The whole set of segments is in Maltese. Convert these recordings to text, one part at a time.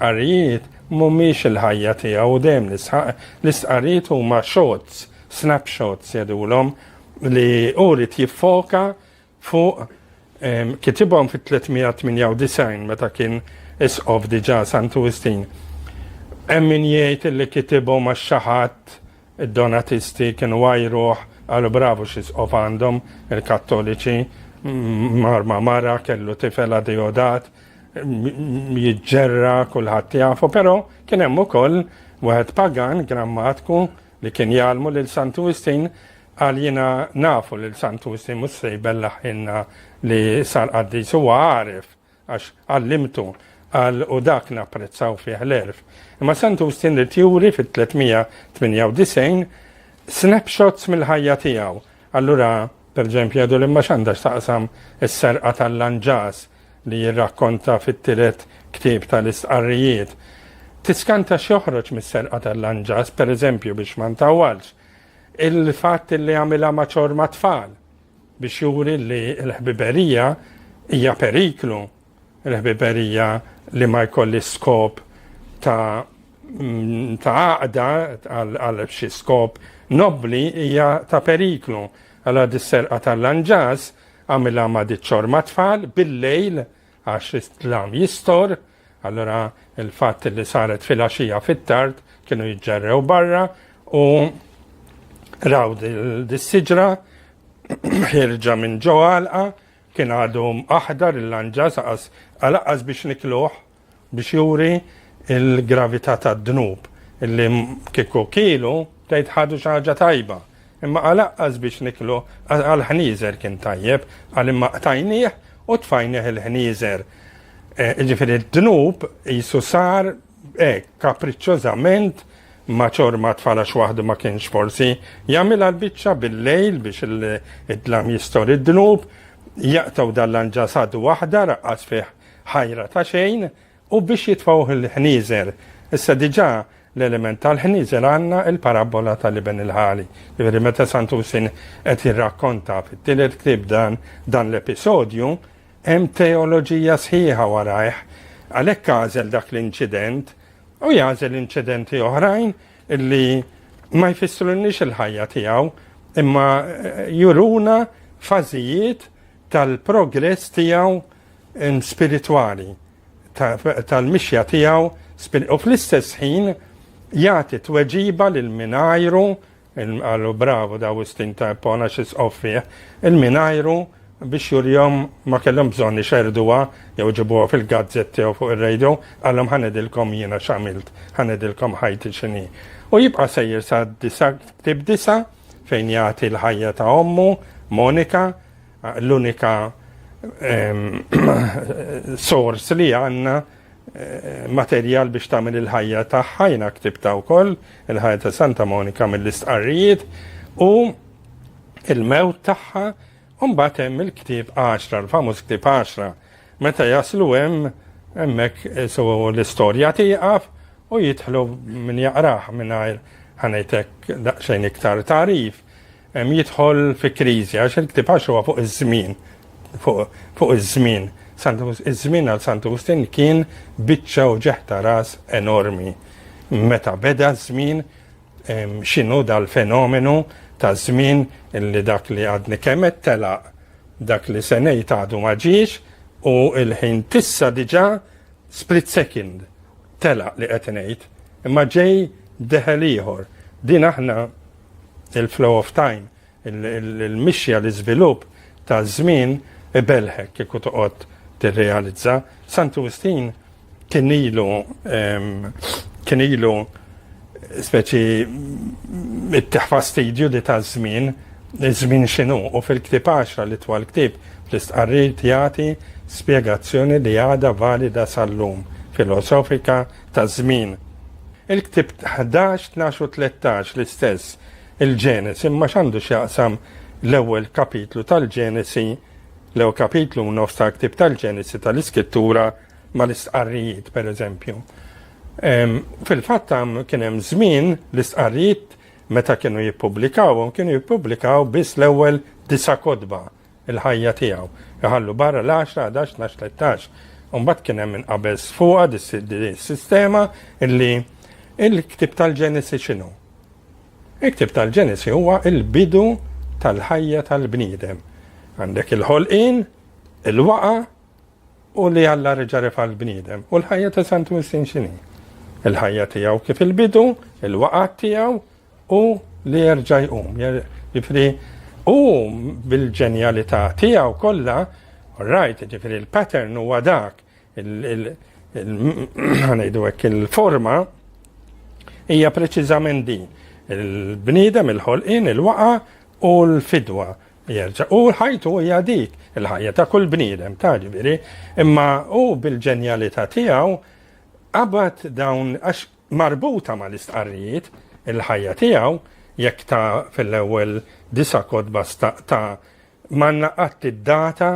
L-istqarrijiet mhumiex il-ħajja tiegħu u dejjem nisħaq, l-istqarrijiet huma shots, snapshots jgħidulhom, li hu jrid jiffoka Fuq, kitibhom fit-398 meta kien Isqof diġà Santu Wistin. Hemm min jgħid illi kitibhom għax xi ħadd id-Donatisti kienu għajruh qalu bravu x'Isqof għandhom il-Kattoliċi, mar ma' mara kellu tifel Adeodat, jiġġerra kulħadd jafu, però kien hemm ukoll wieħed pagan grammatku li kien jgħallmu lil Santu Wistin Qal jiena nafu lil Santusi mhux se jbellaħ ħinna li sar qaddis huwa għaref għax għallimtu qal u dak napprezzaw fih l-għerf. Imma Santusi ried juri fit-398 snapshots mill-ħajja tiegħu. Allura perġempju jgħidu li ma x'għandha x'taqsam is-serqa tal-lanġas li jirrakkonta fit-tielet ktieb tal-istqarrijiet. Tiskanta x'joħroġ mis-serqa tal-lanġas, pereżempju biex ma ntawwalx, Il-fatt li għamilha ma' ċorma tfal biex juri li l-ħbiberija hija periklu, l-ħbiberija li ma jkolli skop ta' mm, ta' għaqda għal xi skop nobli hija ta' periklu. Għala dis-serqa tal-lanġas għamilha ma' diċċor ma' tfal bil-lejl għax l-islam jistor Allura il-fatt li saret fil-għaxija fit-tard kienu jiġġerrew barra u raw dis-siġra ħirġa minn ġo għalqa kien għadu aħdar il-lanġa saqas għalaqqas biex nikluħ biex juri il-gravità tad-dnub illi kieku kielu tgħid ħadu xi ħaġa tajba Imma għalaqqas biex niklu għall-ħnieżer kien tajjeb, qal imma qtajnieh u tfajnieh il-ħnieżer. Eh, jiġifieri d-dnub qisu sar hekk kapriċċożament ma ċor ma tfala xwaħdu ma kienx forsi jagħmilha l-biċċa bil-lejl biex id-dlam jistor id-dnub, jaqtaw dal-lanġa sadu waħda raqqas fih ħajra ta' xejn, U biex jitfgħuh il-ħnieżer. Issa diġà l-element tal-ħnieżer għandna l-parabbola tal-iben il-ħali. Jiġifieri meta Sant'Usin qed jirrakkonta fit-tielet ktieb dan dan l-episodju, hemm teoloġija sħiħa warajh. Għalhekk għażel dak l-inċident u jagħżel inċidenti oħrajn li ma jfissrulniex il-ħajja tiegħu imma juruna fażijiet tal-progress tiegħu spiritwali, tal-mixja tiegħu, u fl-istess ħin jagħti tweġiba lil min għajru, għallu bravu da Wistin ta' Pona xis offieħ, il-minajru biex jurjom ma kellhom bżonni xerduwa jew ġibuha fil-gazzetti jew fuq ir-radio, għallhom ħanedilkom jiena xamilt, ħanedilkom ħajti xini. U jibqa' sejjer sa' disa, tib disa, fejn jagħti l-ħajja ta' ommu, Monika, l-unika sors li għanna eh, materjal biex tagħmel il-ħajja tagħha jiena ktibta wkoll il-ħajja ta' Santa Monika mill-istqarrijiet u il-mewt tagħha U mbagħad hemm il-ktieb għaxra, l-famuż ktieb għaxra. Meta jaslu hemm hemmhekk eh, so l-istorja tieqaf u jidħlu min jaqrah mingħajr ħanejtek daqsxejn iktar tarif. Hemm jidħol fi kriżi għax il-ktieb għax huwa fuq iż-żmien. Fuq iż-żmien. Iż-żmien għal Sant Agustin kien biċċa u ġeħta ras enormi. Meta beda ż-żmien X'inhu dal-fenomenu ta' żmien li dak li għadni kemm qed telaq, dak li se ngħid għadu ma ġiex u l-ħin tissa diġà split second telaq li qed ngħid, imma ġej deħel ieħor. Din aħna il-flow of time Il-mixja, l-iżvilupp taż-żmien ibellħek kieku toqgħod tirrealizza. Sant'Augustin kien ilu kien ilu speċi it-teħ fastidju di taż-żmien, iż-żmien x'inhu u fil-ktieb 10 li twal ktieb fl-istqarrijiet jagħti spjegazzjoni li għadha valida sal-lum filosofika taż-żmien. Il-ktieb 11, 12 u 13 l-istess il-Ġenesi imma x'għandu x'jaqsam l-ewwel kapitlu tal-Ġenesi, l-ewwel kapitlu u nofs tal-ktieb tal-Ġenesi tal-Iskittura mal-istqarrijiet pereżempju. Fil-fatt kien hemm żmien l-istqarrijiet meta kienu jippubblikawhom kienu jippubblikaw biss l-ewwel disa' kotba il-ħajja tiegħu. Iħallu barra l-10, 11, 12, 13. Umbat kien hemm inqabeż fuqha dis-sistema illi il-ktib tal-Ġenesi x'inhu. Il-ktieb tal-Ġenesi huwa l-bidu tal-ħajja tal-bniedem. Għandek il-ħolqien, il-waqgħa, u li Alla reġa' refa' l-bniedem. U l-ħajja ta' Sant Wistin x'inhi? Il-ħajja tiegħu kif il-bidu, il-waqgħa tiegħu u li jerġa' jqum. Ġifri, u bil-ġenjalità tiegħu kollha, rajt, ġifri l-pattern huwa dak il-forma hija preċiżament din. Il-bniedem, il-ħolqien, il-waqa u l-fidwa jerġa' u ħajtu hija dik il-ħajja ta' kull bniedem ta' ġifieri, imma u bil-ġenjalità tiegħu qabad dawn għax marbuta mal-istqarrijiet il-ħajja tiegħu jekk ta' fil-ewwel disa kodba ta' manna qatt id-data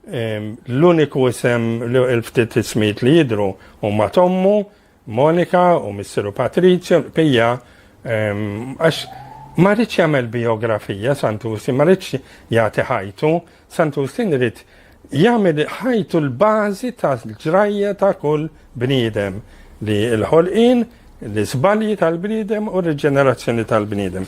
L-uniku isem, il-ftit ismijiet li jidhru huma t'ommu, Monika, u missieru Patrizio, Pija, għax ma rridx jagħmel bijografija Santusi, ma rridx jagħti ħajtu, Santusi rrid jagħmel ħajtu l-bażi tal-ġrajja ta' kull bniedem li l-ħolqien, l-iżbalji tal-bniedem u r-riġenerazzjoni tal-bniedem.